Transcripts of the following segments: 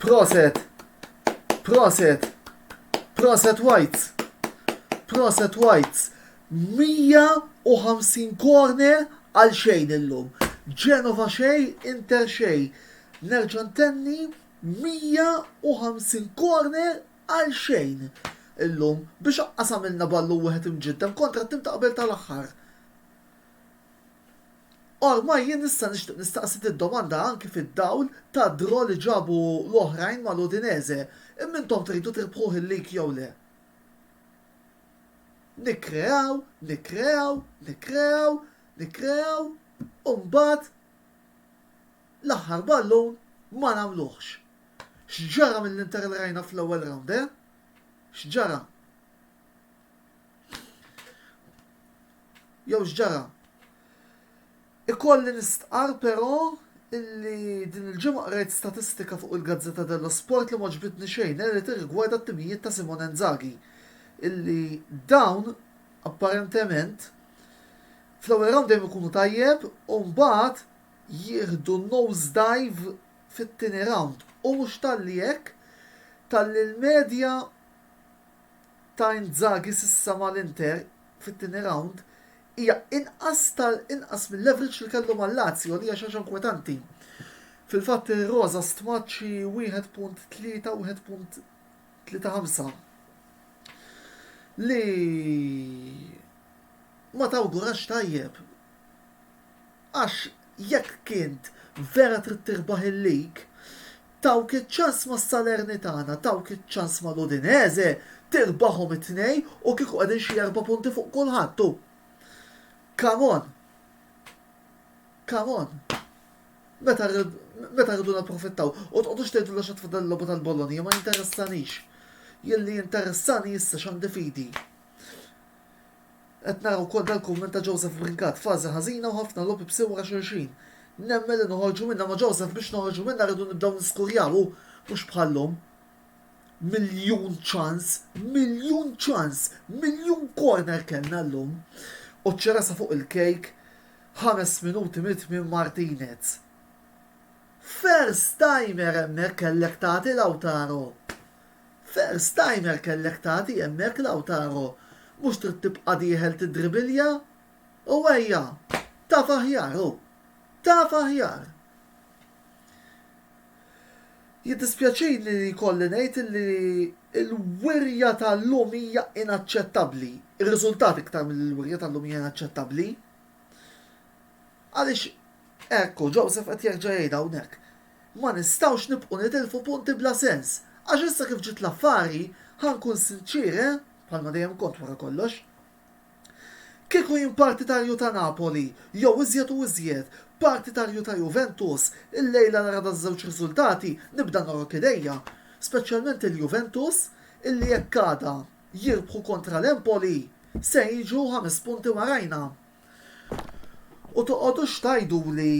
Proset! Proset! Proset Whites! Proset Whites! 150 corner għal xejn illum. Genova xej, Inter xej. Nerġa' ntenni 150 corner għal xejn illum biex aqqas għamilna ballun wieħed imġiddem kontra t-tim ta' qabel tal-aħħar. Ormai jien issa nixtieq nistaqsi did-domanda anki fid-dawl tad-draw li ġabu l-oħrajn mal-Udinese, imma intom tridu tirbħuh il-league jew le? Nikkreaw, nikkreaw, nikkreaw, nikkreaw u mbagħad L-aħħar ballun ma nagħmluhx. X'ġara mill-Inter li rajna fl-ewwel round, eh? X'ġara? Jew x'ġara? Ikolli nistqarr però illi din il-ġimgħa qrajt statistika fuq il-Gazzetta dello Sport li m'għoġbitni xejn, eh, li tirrigwarda t-timijiet ta' Simone Inzaghi. Illi dawn, apparentement, fl-ewwel round dejjem ikunu tajjeb u mbagħad jieħdu nosedive fit-tieni rawnd u mhux talli hekk, talli l-medja ta' Inzaghi s'issa mal-Inter fit-tieni rawnd hija inqas ta' inqas mill-average li kellu mal-Lazio li hija xi ħaġa inkwetanti. Fil-fatt ir-Rosa stmat xi 1.3, 1.35 li ma tawgurax tajjeb Għax jekk int vera trid tirbaħ il-lig, tawk iċ-ċans ma' Salernitana, tawk iċ-ċans ma' l-Udinese, tirbahom it-tnejn u kieku qegħdin xi erba' punti fuq kulħadd hu. Come on! Come on! Meta meta rridu napprofittaw? U tqogħdux tgħidulna x'għad fadal il-logħba tal-Bologna, ma jinteressanix. Jien li jinteressani issa x'għandi f'idi. Qed nara wkoll dal-kumment ta' Joseph Brincat, fażi ħażina u ħafna logħob ibsi wara xulxin. Nemmen li noħorġu minnha ma' Joseph biex noħorġu minnha rridu nibdew niskurjaw u mhux bħal-lum. Miljun ċans, miljun ċans, miljun corner kellna llum. U ċ-ċerasa fuq il-kejk ħames minuti mit-tmiem Martinez. First timer hemmhekk kellek tagħti Lautaro. Ferr Steiner kellek tagħti hemmhekk Lautaro mhux trid tibqa' dieħel tiddribilja u ejja taf aħjar hu taf aħjar. Jiddispjaċini li jkolli ngħid li l-wirja ta' llum hija inaċċettabbli, ir-riżultat iktar milli l-wirja ta' llum hija inaċċettabbli. Għaliex hekk hu Joseph qed jerġa' jgħidha hawnhekk. Ma nistgħux nibqgħu nitilfu punti bla sens, għax issa kif ġiet l-affari, ħa nkun sinċier, eh, bħalma dejjem kont wara kollox. Kieku jien partitarju ta' Napoli, jew iżjed u iżjed, partitarju ta' Juventus, illejla nara daż-żewġ riżultati nibda nogħrok idejja, speċjalment il-Juventus illi jekk għada jirbħu kontra l-Empoli se jiġu ħames punti warajna. U toqgħodux tgħiduli.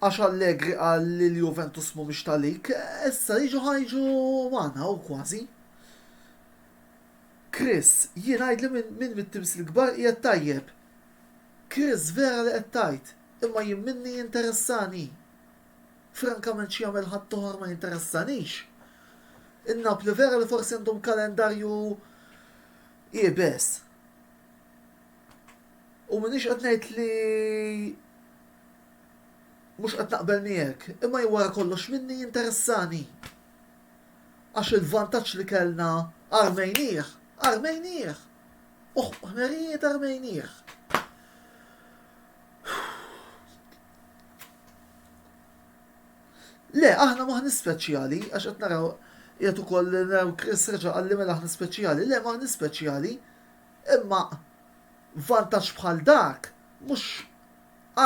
Għax Allegri qal li l-Juventus mhumiex ta' lik, issa jiġu ħa jiġu magħna u kważi. Chris, jien għidli minn min mit-timsil kbar qiegħed tajjeb. Chris, vera li qed tgħid, imma jien minni jinteressani. Frankament xi jagħmel ħaddieħor ma jinteressanix. In-Napli vera li forsi għandhom kalendarju iebes. U m'iniex qed ngħid li Mhux qed naqbel miegħek, imma hi wara kollox minni jinteressani. Għax il-vantaġġ li kellna armejnieh, armejnieh! U ħmerijiet armejnieh. Le, aħna maħni speċjali, għax qed naraw qiegħed ukoll naraw Chris reġa' qalli mela aħna speċjali. Le, maħni speċjali, imma vantaġġ bħal dak mhux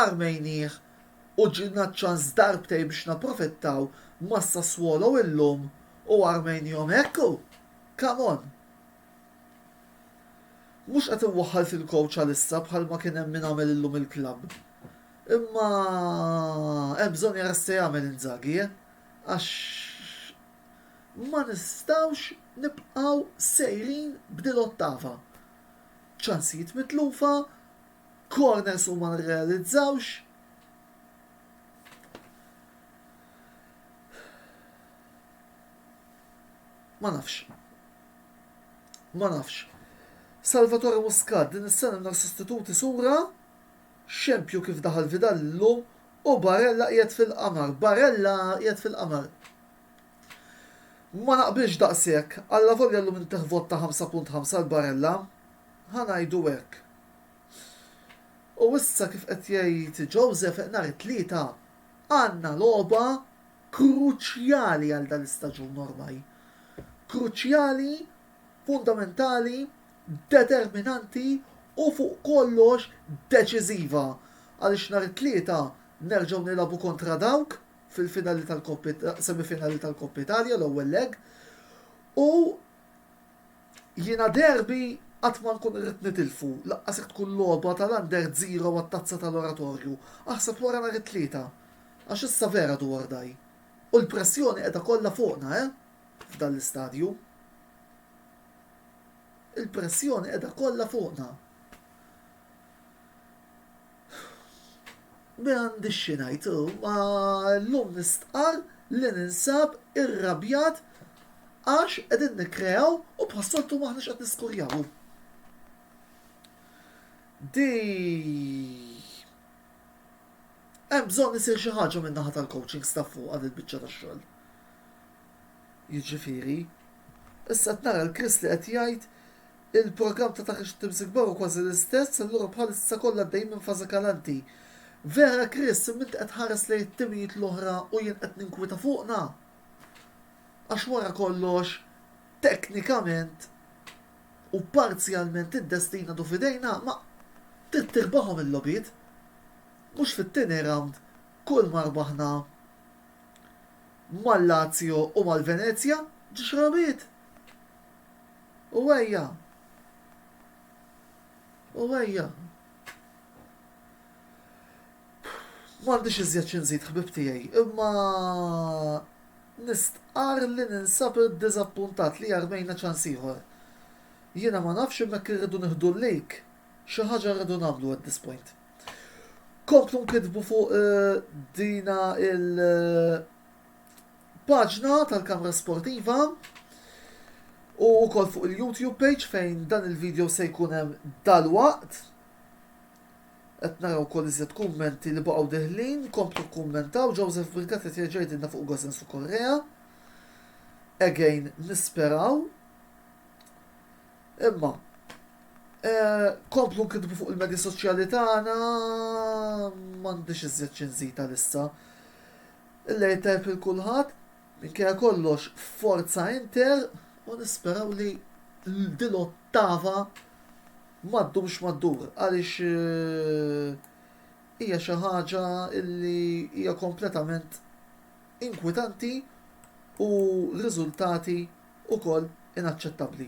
Armejnieh u ġilna ċ-ċans darbtejn biex napprofittaw ma' Sassuolo illum u armejnihom hekk hu! Come on! Mhux qed inwaħħal fil-coach għalissa bħalma kien hemm min għamel illum il-klabb. Imma hemm bżonn jara x'se jagħmel Inzaghi, eh! Għax ma nistgħux nibqgħu sejrin b'dil-ottava. Ċansijiet mitlufa, Corners u ma nirrealizzawx. Ma nafx. Ma nafx. Salvatore Muscat din is-sena mingħajr sostituti sura xempju kif daħal Vidal illum u Barella qiegħed fil-qamar. Barella qiegħed fil-qamar. Ma naqbilx daqshekk, allavolja llum inteħ vot ta' 5.5 għal Barella, ħa ngħidu hekk. U issa kif qed jgħid Joseph nhar it-Tlieta għandna logħba kruċjali għal dan l-istaġun ormaj. Kruċjali, fundamentali, determinanti u fuq kollox deċiżiva għaliex nhar it-Tlieta nerġgħu nilagħbu kontra dawk fil-finali tal-Kopp, semifinali tal-Kopp Italja, l-ewwel leg, u Jiena derby qatt ma nkun irrid nitilfu, lanqas jekk tkun logħba tal-Under Zero għat-Tazza tal-Oratorju, aħseb wara nhar it-Tlieta. Għax issa vera do or die. U l-pressjoni qiegħda kollha fuqna, eh? F'dan l-istadju. Il-pressjoni qiegħda kollha fuqna. M'għandix xi ngħid, imma llum nistqarr li ninsab irrabjat għax qegħdin nikkreaw u bħas-soltu m'aħniex qed niskurjaw. Di hemm bżonn isir xi ħaġa min-naħa tal-coaching staff fuq għad il-biċċa tax-xogħol. Jiġifieri, issa qed nara l-Kris li qed jgħid Il-programm ta' taħriġ tat-Timsig Kbar hu kważi l-istess, allura bħalissa kollha għaddejjin minn fażi kalanti. Vera, Chris, imma inti qed tħares lejn it-timijiet l-oħra u jien qed ninkwieta fuqna? Għax wara kollox, teknikament u parzjalment id-destin għadu f'idejna, ma trid tirbaħhom il-logħbiet. Mhux fit-tieni rawnd kull ma rbaħna mal-Lazio u mal-Venezja, ġiex rabigħiet. U ejja. U ejja. M'għandix iżjed xi nżid ħbieb tiegħi, imma nistqarr li ninsab iddiżappuntat li armejna ċans ieħor. Jiena ma nafx imma jekk irridu nieħdu l-lejk, xi ħaġa rridu nagħmlu at this point. Komplu nkittbu fuq dina il- paġna tal-Kamra Sportiva u wkoll fuq il-YouTube page fejn dan il-video se jkun hemm dalwaqt. Qed naraw wkoll iżjed kummenti li baqgħu deħlin, komplu kummentaw Joseph Birgat qed jerġa' jgħidilna fuq Gosens u Correa. Again nisperaw. Imma eh, komplu nkitbu fuq il-medja soċjali tagħna m'għandix iżjed xi nżid għalissa. Illejl tajjeb lil kulħadd, minkejja kollox forza Inter u nisperaw li din l-ottava ma ddumx ma ddur għaliex hija xi ħaġa li hija kompletament inkwitanti u riżultati wkoll inaċċettabbli.